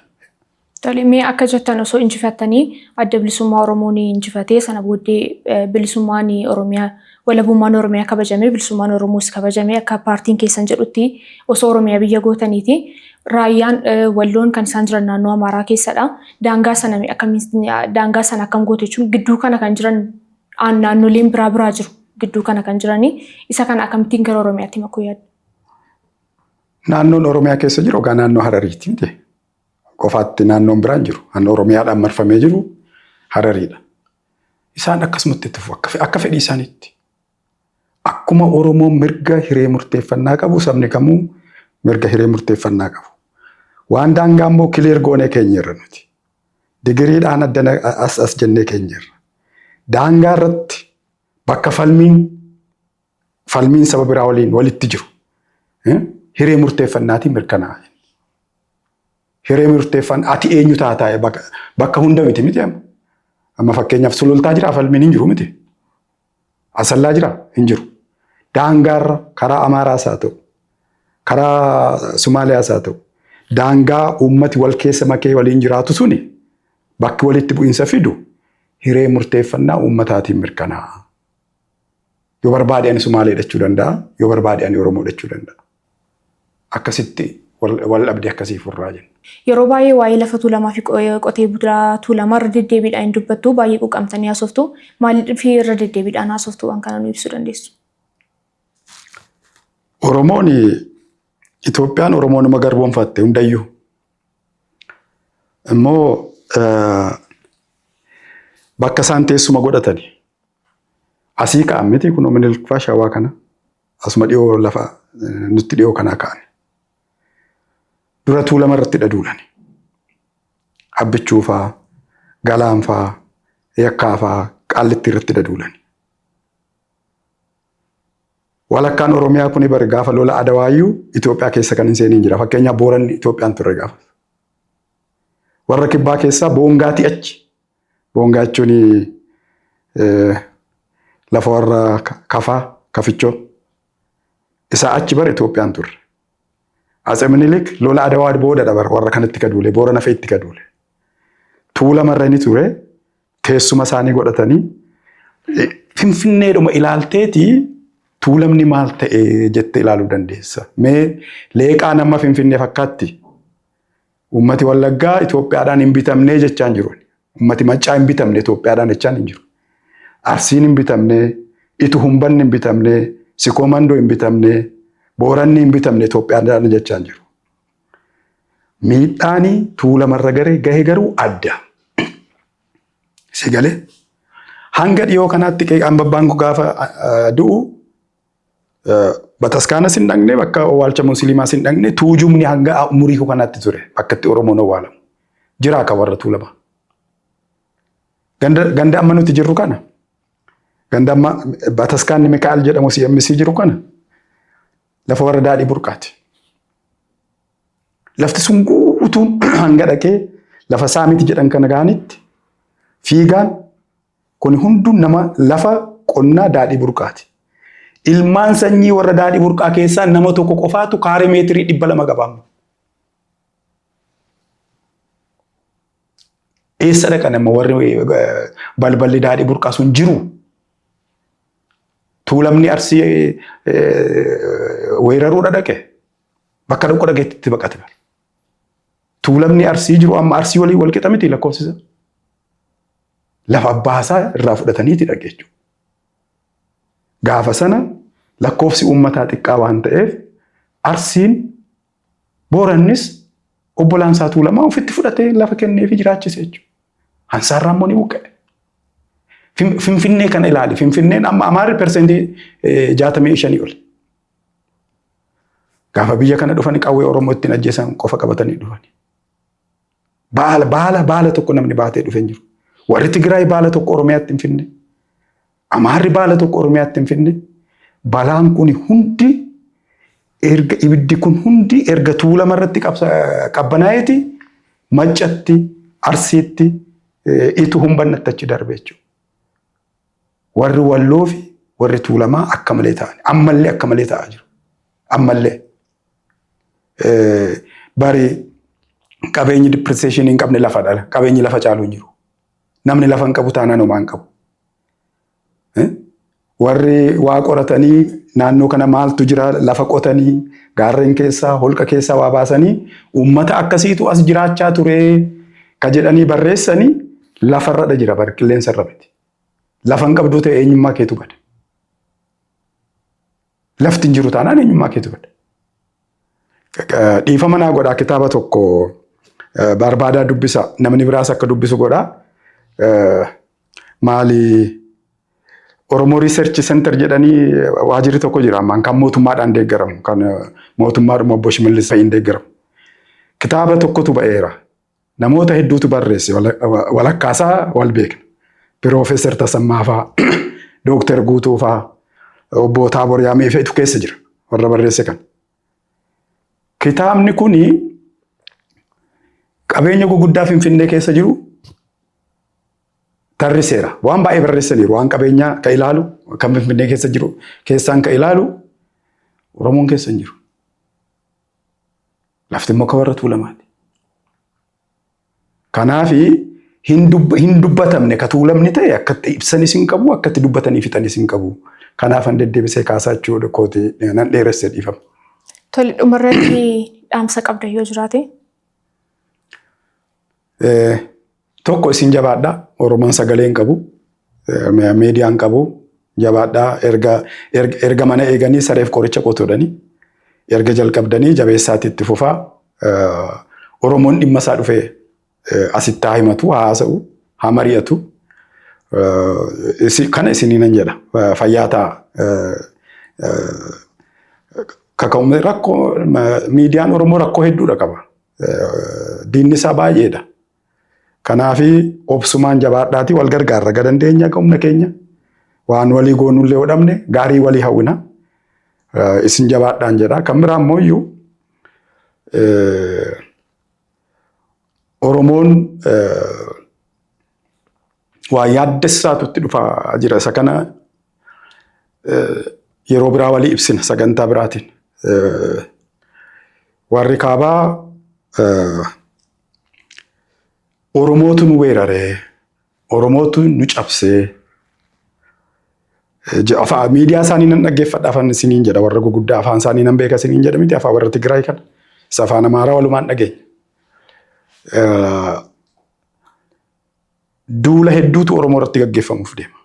Tole mee akka jettan osoo injifattanii adda bilisummaa Oromoo ni injifatee sana booddee eh, bilisummaan Oromiyaa Walabummaan Oromiyaa kabajamee, Bilisummaan Oromoos kabajamee akka paartiin keessan jedhutti osoo Oromiyaa biyya gootaniiti. Raayyaan Walloon kan isaan jiran naannoo Amaaraa keessadha. Daangaa sana mee akkamiin daangaa sana akkam gootu jechuun gidduu kana kan jiran aan- naannoleen biraa biraa jiru gidduu kana kan jiranii isa kana akkamittiin gara Oromiyaatti makuu yaaddu? Naannoon Oromiyaa keessa jiru egaa naannoo Harariiti miti. Qofaatti naannoon biraan jiru. Naannoo Oromiyaadhaan marfamee jiru Harariidha. isaan akkasumatti itti fufu akka fedhii isaaniitti. Akkuma Oromoon mirga hiree murteeffannaa qabu sabni kamuu mirga hiree murteeffannaa qabu. Waan daangaa immoo kileer goonee keenyerra nuti. Digiriidhaan addana as as jennee keenyerra. Daangaa irratti bakka falmiin falmiin saba biraa waliin walitti jiru hiree murteeffannaatiin mirkanaa'e. Hiree murteeffan ati eenyu taataa'e bakka hunda miti miti amma. Amma fakkeenyaaf sulultaa jira falmiin hin jiru miti. Asallaa jira hin jiru. Daangaarra karaa Amaaraas haa ta'u karaa Somaaliyaas haa ta'u daangaa uummati wal keessa makee waliin jiraatu suni bakki walitti bu'iinsa fidu hiree murteeffannaa uummataatiin mirkanaa'a. Yoo barbaade ani Sumaalee jedhachuu danda'a. Yoo barbaade ani Oromoo jedhachuu danda'a. Akkasitti wal dhabdee akkasii furraa jenna. Yeroo baay'ee waa'ee lafa tuulamaa fi qotee bulaa tuulamaa irra deddeebiidhaan hin dubbattu. Baay'ee quuqqamtanii haasoftu. Maaliif irra deddeebiidhaan haasoftu waan kana nu ibsuu dandeessu? Oromoon Itoophiyaan Oromoo nama garboomfatte hundayyuu. Immoo bakka isaan teessuma godhatani. Asii ka'an miti kunoo Minilik faa shawaa kana asuma dhiyoo lafa eh, nutti dhiyoo kanaa ka'an. Dura tuulama irratti dhaduudhaan abbichuu faa galaan faa yakkaa faa qaallitti irratti dhaduudhaan. Walakkaan Oromiyaa kuni bari gaafa lola adawaayyuu Itoophiyaa keessa kan hin seeniin jira. Fakkeenyaaf Booranni Itoophiyaan turre gaafas. Warra kibbaa keessaa boongaatii achi Boongaa jechuun lafa warra kafaa kafichoo isaa achi bara Itoophiyaan turre. Atse Minilik lola Adawaa booda dabar warra kanatti gaduule boora nafee itti gaduule. Tuulamarra ni ture teessuma isaanii godhatanii finfinneedhuma ilaalteeti tuulamni maal ta'e jette ilaaluu dandeessa. Mee leeqaa nama finfinnee fakkaatti Uummati Wallaggaa Itoophiyaadhaan hin bitamnee jechaan jiru. Uummati Maccaa hin bitamne Itoophiyaadhaan jechaan hin jiru. Arsiin hin bitamne, Itu Humbanni hin bitamne, Sikoo Mandoo hin bitamne, Booranni hin bitamne Itoophiyaadhaan jechaan jiru. Miidhaani tuulamarra garee gahe garuu adda. Si galee? Hanga dhiyoo kanaatti qeeqaan babbaan gaafa du'u Bataskaanas hin dhaqne, bakka owwaalcha musliimaas hin dhaqne, tuujubni hanga umurii kanaatti ture bakka itti Oromoon owwaalamu. Jiraa kan warra tuulamaa. Ganda, ganda amma nuti jirru kana, ganda amma bataskaanni Mikaa'el jedhamu CMC jiru kana, lafa warra daadhii burqaati. Lafti sun guutuun hanga dhaqee lafa saamiti jedhan kana gahanitti fiigaan Kuni hunduu nama lafa qonnaa Daadhii Burqaati. Ilmaan sanyii warra Daadhii Burqaa keessaa nama tokko qofaatu kaaree meetirii dhibba lama qaba amma. Eessa dhaqan amma warri balballi Daadhii Burqaa sun jiru? Tuulamni Arsii weeraruudha dhaqe. Bakka dhaqu dhaqeetti itti baqate. Tuulamni Arsii jiru amma Arsii waliin wal qixa miti lakkoofsisa. lafa abbaa isaa irraa fudhataniiti dhaga jechuudha. Gaafa sana lakkoofsi uummataa xiqqaa waan ta'eef Arsiin Boorannis obbolaan isaa Tuulamaa ofitti fudhatee lafa kennee fi jiraachise jechuudha. Hansaarraa immoo ni buqqa'e. Finfinnee kana ilaali. Finfinneen amma Amaarri persentii jaatamii shanii oli. Gaafa biyya kana dhufanii qawwee Oromoo ittiin ajjeesan qofa qabatanii dhufanii. Baala baala baala tokko namni baatee dhufe hin jiru. Warri Tigraay baala tokko Oromiyaatti hin finne. Amaarri baala tokko Oromiyaatti hin finne. Balaan kun hundi erga ibiddi kun hundi erga tuulama irratti qabbanaa'eeti maccatti arsiitti itu humbannatti achi darbe jechuudha. Warri walloo fi warri tuulamaa akka malee ta'an ammallee akka malee ta'aa jiru. Ammallee. Bari qabeenyi depreciation hin qabne lafa dhala. Qabeenyi lafa caalu hin jiru. Namni lafa hin qabu taanaan homaa hin qabu. Warri waa qoratanii naannoo kana maaltu jira lafa qotanii gaarreen keessaa holqa keessaa waa baasanii uummata akkasiitu as jiraachaa ture ka jedhanii barreessanii lafarradha jira bar qilleensarra miti. Lafa hin qabdu ta'e eenyummaa keetu bada. Lafti hin jiru taanaan eenyummaa keetu bada. Dhiifama naa godhaa kitaaba tokko barbaadaa dubbisa namni biraas akka dubbisu godhaa. Maali Oromoo Research Center jedhanii waajirri tokko jira ammaan kan mootummaadhaan deeggaramu kan mootummaadhuma obbo Shimallis fa'iin deeggaramu. Kitaaba tokkotu ba'eera. Namoota hedduutu barreesse walakkaasaa wal beekna. Piroofeesar Tasammaa faa, Dooktar Guutuu faa, obbo Taabor Yaamee feetu keessa jira warra barreesse kan. Kitaabni kuni qabeenya guguddaa Finfinnee keessa jiru tarriseera. Waan baay'ee barreessaniiru. Waan qabeenyaa ka ilaalu, kan Finfinnee keessa jiru keessaan ka ilaalu Oromoon keessa hin jiru. Lafti immoo ka warra tuulamaati. Kanaaf hin dub- hin dubbatamne ka tuulamni ta'e akkatti ibsanis hin qabu akkatti dubbatanii fixanis hin qabu. Kanaaf an deddeebisee kaasaa jechuudha kooti nan dheeresse dhiifama. Tole dhumarratti dhaamsa qabda yoo jiraate Eh, Tokko isin jabaadha. Oromoon sagalee hin qabu. Meediyaa hin qabu. Jabaadha. Erga, erga, erga mana eeganii sareef qoricha qotuudhani. Erga jalqabdanii jabeessaatti itti fufaa. Eh, Oromoon dhimma isaa dhufee eh, asitti haa himatu, haa haasa'u, haa mari'atu. Eh, isi- Kana isinii nan jedha. Eh, Fayyaa ta'a. Eh, eh, kaka'umsa rakkoo ma- miidiyaan Oromoo rakkoo hedduudha qaba. Eh, Diinni isaa baay'eedha. Kanaafi obsumaan jabaadhaatii wal gargaarra ga dandeenya ga humna keenya waan walii goonullee yoo dhabne gaarii walii hawwina isin jabaadhaan jedha. Kan biraa immoo iyyuu Oromoon waa yaaddessaatu itti dhufaa jira. Isa kana yeroo biraa walii ibsina sagantaa biraatiin. Warri kaabaa Oromootu nu weeraree, Oromootu nu cabsee. Je- Afaa miidiyaa isaanii nan dhaggeeffadha afaan isiniin jedha warra guguddaa afaan isaanii nan beeka isiniin jedha miti afaan warra Tigraay kana. Isa afaan Amaaraa walumaan dhageenya. Eh, Duula hedduutu Oromoo irratti gaggeeffamuuf deema.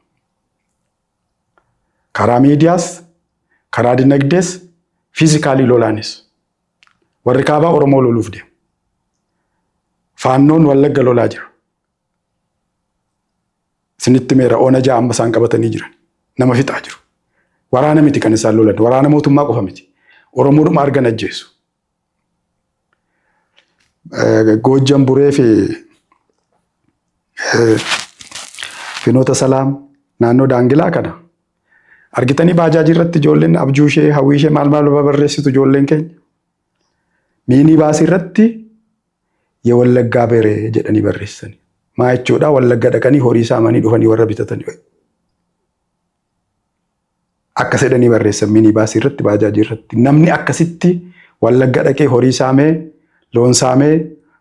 Karaa miidiyaas, karaa dinagdees, fiizikaalii lolaanis. Warri kaabaa Oromoo loluuf deemu. Faannoon Wallagga lolaa jira. Isinitti meera oona ja'a amma isaan qabatanii jiran. Nama fixaa jiru. Waraana miti kan isaan lolan. Waraana mootummaa qofa miti. Oromoodhuma argan ajjeesu. Goojjan Buree fi Finoota Salaam naannoo Daangilaa kana Argitanii baajaajii irratti ijoolleen abjuu ishee hawwii ishee maal maal barreessitu ijoolleen keenya. Miinii baasii irratti ya wallaggaa bere jedhanii barreessani. Maa jechuudha wallagga dhaqanii horii saamanii dhufanii warra bitatanii wayi. Akkas jedhanii barreessan miinii baasii irratti baajaajii irratti. Namni akkasitti wallagga dhaqee horii saamee loon saamee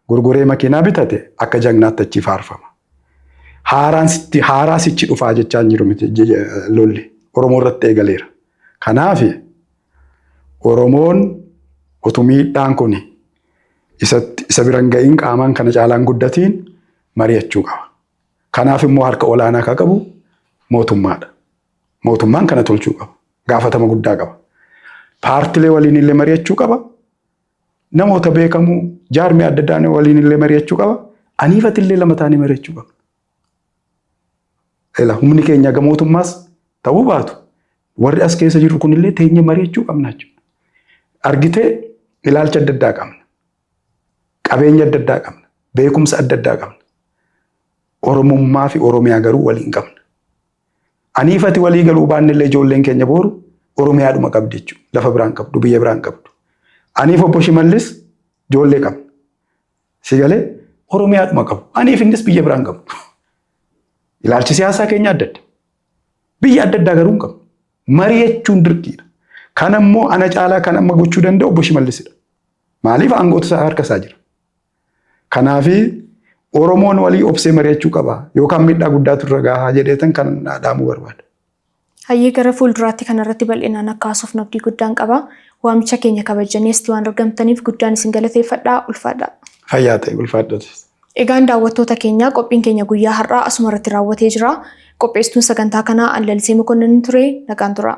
gurguree makiinaa bitate akka jagnaatti achi faarfama. Haaraan sitti haaraa sichi dhufaa jechaa hin jiru miti je- je- lolli Oromoo irratti eegaleera. Kanaaf Oromoon utuu miidhaan kun isatti isa biran ga'iin qaamaan kana caalaan guddatiin mari'achuu qaba. Kanaaf immoo harka olaanaa akka qabu mootummaadha. Mootummaan kana tolchuu qaba. Gaafatama guddaa qaba. Paartilee waliin illee mari'achuu qaba. Namoota beekamoo jaarmee adda addaan waliin illee mari'achuu qaba. Aniifati illee lama taanee mari'achuu qabna. Ela humni keenya gamootummaas ta'uu baatu warri as keessa jirru kunillee teenyee mari'achuu qabna jechuudha. Argitee ilaalcha adda addaa qabna. Qabeenya adda addaa qabna. Beekumsa adda addaa qabna. Oromummaa fi Oromiyaa garuu waliin qabna. Aniif ati walii galuu baannellee ijoolleen keenya booru Oromiyaadhuma qabdi jechuudha. Lafa biraan qabdu, biyya biraan qabdu. Aniif obbo Shimallis ijoollee qabna. Si galee Oromiyaadhuma qabu. Aniif innis biyya biraan qabu. Ilaalchi siyaasaa keenya adda adda. Biyya adda addaa garuu hin qabnu. Mari'achuun dirqiidha. Kan ammoo ana caalaa kan amma gochuu danda'u obbo Shimallisidha. Maaliif aangootu isaa harka isaa jira. Kanaafi Oromoon walii obsee mari'achuu qaba. Yookaan miidhaa guddaatu irra gahaa jedheetan kan dhaamuu barbaada. Hayyee gara fuulduraatti kanarratti bal'inaan akka haasofnu abdii guddaan qaba. Waamicha keenya kabajjanii asitti waan argamtaniif guddaan isin galateeffadha. Ulfaadha. Fayyaa ta'e ulfaadhati. Egaan daawwattoota keenya qophiin keenya guyyaa har'aa asuma irratti raawwatee jira. Qopheessituun sagantaa kanaa Anlalisee Mokonnin ture nagaan tura.